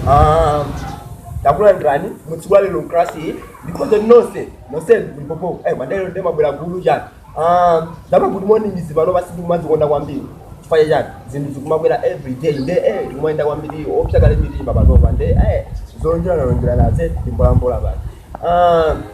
Ah, takulandirani mutsiku la lero mklasi iyi ndikhoza nonse nonse mpopo eh, nde lero ndimabwela gulu chani Ah, zama good morning izi pano basi ndikumazikonda kwambiri chifukwa chani zinthu zikumabwera every day nde eh, ndikumayenda kwambiri kuposa kale mitima panopa nde eh, zolonjeranalonjeranaze timbolambola pano Ah,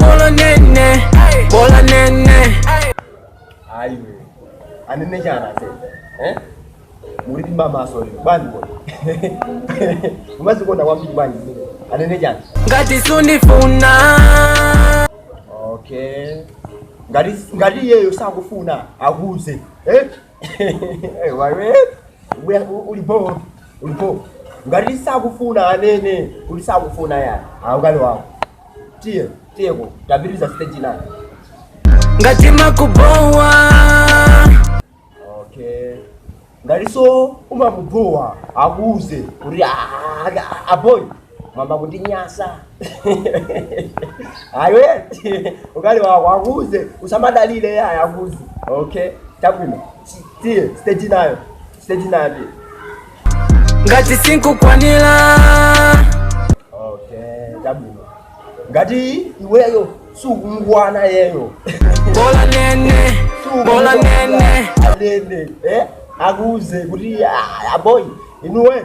Bola nene, bola nene. Ayo. Anene jana se. Eh? Muri kimba maso ni bandi boy. Umazi kona wambi bandi. Anene jana. Ngati sunifuna. Okay. Ngati ngati yeyo sakufuna akuze. Eh? Eh, waiwe Ubuya- u- ulipo ulipo ngati sakufuna anene kuti sakufuna yani aukali wako tiye tiyeko tapitiriza stage nayo ngati timakubowa okay ngati so umamubowa akuuze kuti "Ah, ah, aboyi mwayamba kundinyasa ayo ukali wako akuze usamadalile yaya akuze okay tabwino tiye stage nayo stage nayo tiye ngati sinkukwanira okay tabwino ngati iweyo sukumukwana iyeyo bola nene bola nene nene eh akuze kuti aboyi inuwe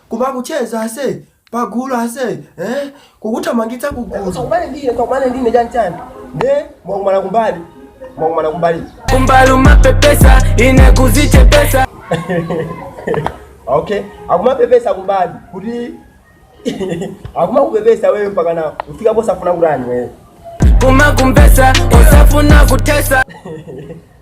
Kumakucheza ase pagulu ase eh? Kukuthamangitsa kugulu Sakumane ndine sakumane ndine chani chani nde mwakumana kumbali mwakumana kumbali kumbalu mapepesa ine kuzichepesa okay akumapepesa kumbali kuti akumakupepesa wewe mpaka na ufika posafuna kutani wewe kumakumbesa osafuna kutesa